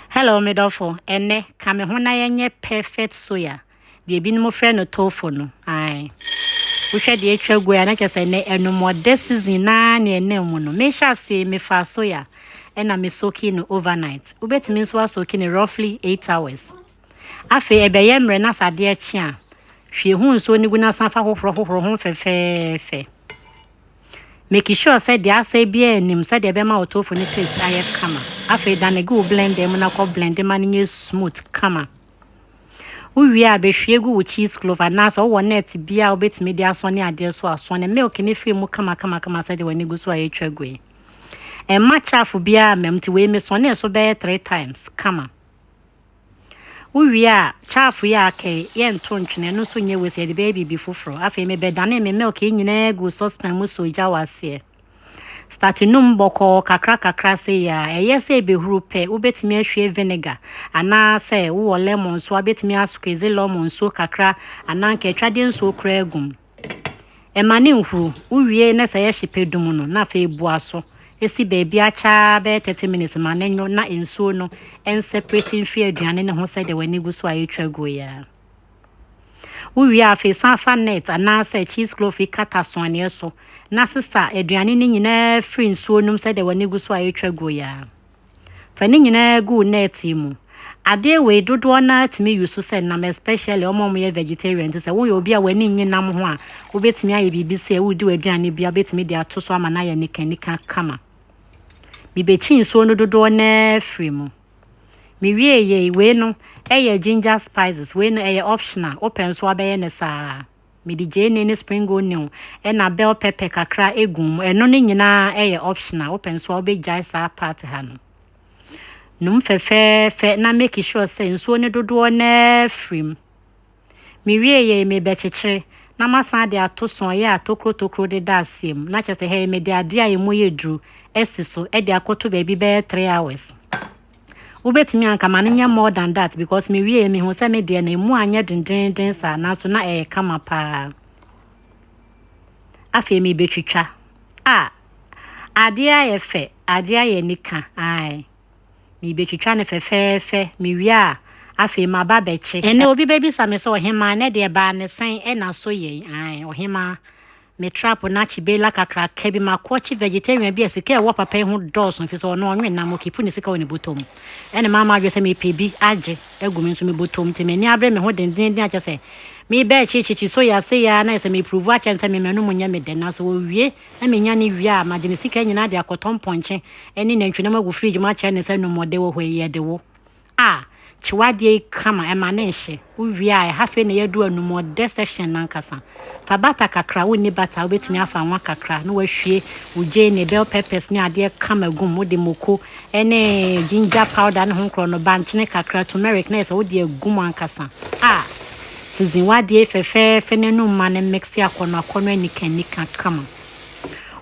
Hello me dɔfo, ɛnnɛ, ka me ho na yɛnyɛ perfect soya, deɛ binom frɛ no tofu no, ae. Wohwɛ deɛ atwa gu a, na kyerɛ sɛ ɛnɛ anumɔdɛ season naa ne ɛnam mu no. Mehyɛ ase, mefa soya, ɛna me soaking no overnight. Wobɛtumi nso asoaking no roughly eight hours. Afei ɛbɛyɛ mmerɛ na sɛ adeɛ kye a, hwie ho nsuo no gu na san fa hohoro hohoro ho fɛfɛɛfɛ. Make sure sɛ deɛ asɛe biara nim sɛdeɛ ɛbɛma wo tofu no taste ayɛ kama. Afei dane gu wo blender mu na kɔ blend ma no nyɛ smooth kama. Wowie a bɛhwie gu wo cheese clove anaasɛ wowɔ net bi a wobɛtumi de asɔne adeɛ so a sɔne milk no firi mu kama kama kama sɛdeɛ w'ani gu so a ɛtwa gu yi. Ɛmma chaff biara mmam nti wei mesɔnee so bɛyɛ three times kama. Wowie a, chaff yi a aka yi, yɛnto ntwene, ɛno nso nyɛ waste, yɛde bɛyɛ biribi foforɔ. Afei mebɛdane me milk yi nyinaa gu saucepan mu so gya wɔ aseɛ. Start num bɔkɔɔ kakra kakra sei a, ɛyɛ sɛ ɛbɛhuru pɛ, wobɛtumi ahwie vinegar anaa sɛ wowɔ lemon nso a, wobɛtumi asqueeze lemon nsuo kakra anaa nka atwadeɛ nsuo koraa agum. Ɛma no nhuru. Wowie na sɛ yɛhye pɛ dum no na afei bua so si baabi akyaa bɛyɛ 30 minutes ma no nwo na nsuo no nseparate mfiri aduane no ho sɛdeɛ w'ani gu so a ɛretwa guo yi ara. Wowie a afei san fa net anaasɛ cheese cloth yi kata soaneɛ so na sesa aduane no nyinaa firi nsuo no mu sɛdeɛ w'ani gu so a ɛretwa guo yi ara. Fa ne nyinaa gu wo net mu. Adeɛ wei dodoɔ no ara tumi use sɛ nam especially wɔn a wɔyɛ vegetarian nti sɛ woyɛ obi a w'ani nnye nam ho a wobɛtumi ayɛ biribi sɛ woredi w'aduane bi a wobɛtumi de ato so ama no ayɛ nikanika kama. Mebɛkyi nsuo no dodoɔ no ara firi mu. Mewie yei wei no ɛyɛ ginger spices wei no ɛyɛ optional wopɛ nso abɛyɛ ne saa. Mede gyeene ne spring onion ɛna bell pepper kakra egu mu. Ɛno ne nyinaa ɛyɛ optional. Wopɛ nso a wobɛgyae saa part ha no. Num fɛfɛɛfɛ na make sure sɛ nsuo ne dodoɔ na afiri mu. Mewie yɛ mebɛkyekyere na masan de atoso a ɛyɛ atokuro tokuro de da aseɛ mu. Na kyerɛ sɛ ha yi mede adeɛ a emu yɛ duru asi so de akoto baabi bɛyɛ 3 hours. Wobɛtumi a nka ma no nyɛ more than that because me wieɛ mehu sɛ me deɛ no ɛmu anyɛ dendenden saa nanso na ɛyɛ kama paa. Afei mebɛtwitwa. A adeɛ ayɛ fɛ, adeɛ ayɛ nika. Ae. Mebɛtwitwa no fɛfɛɛfɛ. Mewie a afei maba bɛkye. Ɛnɛ obi bɛbisa me sɛ ɔhemaa ne deɛ baa ne sɛn ɛna so yɛi. Ae, ɔhemaa. Me trap na akyi bela kakraka bi ma kɔ kyi vegetarian bi a sika ɛwɔ papa yi ho dɔɔso mfi sɛ ɔno ɔnwe nam ɔkipu ne sika wɔ ne bɔtɔ mu ɛne maa m'adwene sɛ mepɛ bi agye agu me nso me bɔtɔ mu nti m'ani abere me ho dendeenden akyɛ sɛ mebɛ kyikyikyi so ya se ya na yɛ sɛ meprovu akyɛ no sɛ me manu mu nyɛ me dɛ nanso ɔwie na menya ne wie a magye me sika nyinaa de akɔtɔ mpɔnkye ne nantwinam agu fridge mu akyɛ ne sɛ no more de wo hɔ yi yɛde wo a kyew adeɛ yi kama ɛma ne nhye wowie a ɛha afei na yɛadu anum ɔdɛ section nankasa fa bata kakra wonni bata wobɛtumi afa nwa kakra na wahwie wo gyeene ne bell peppers ne adeɛ kama gum wode moko ɛne ginger powder ne ho nkorɔ no bankyene kakra turmeric na yɛ sɛ wode agum ankasa a season wadeɛ fɛfɛɛfɛ no anum ma no mixe akɔnɔ akɔnɔ anika anika kama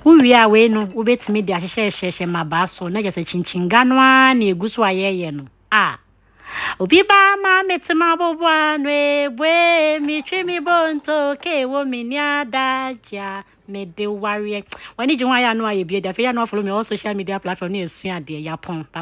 Wowie a wei no wobɛtumi de ahyehyɛhyehyɛ mmabaa so na kyɛ sɛ kyinkyinnga no ara na ɛgu so a yɛyɛ no a obi baa ma mete maboboa no ebue metwe me bonto ke wo me ni adagye a mede wareɛ w'ani gye ho ayɛ ano a yɛbie de afei yɛ ano afolo me all social media platform ne ɛsua adeɛ yɛapɔn bye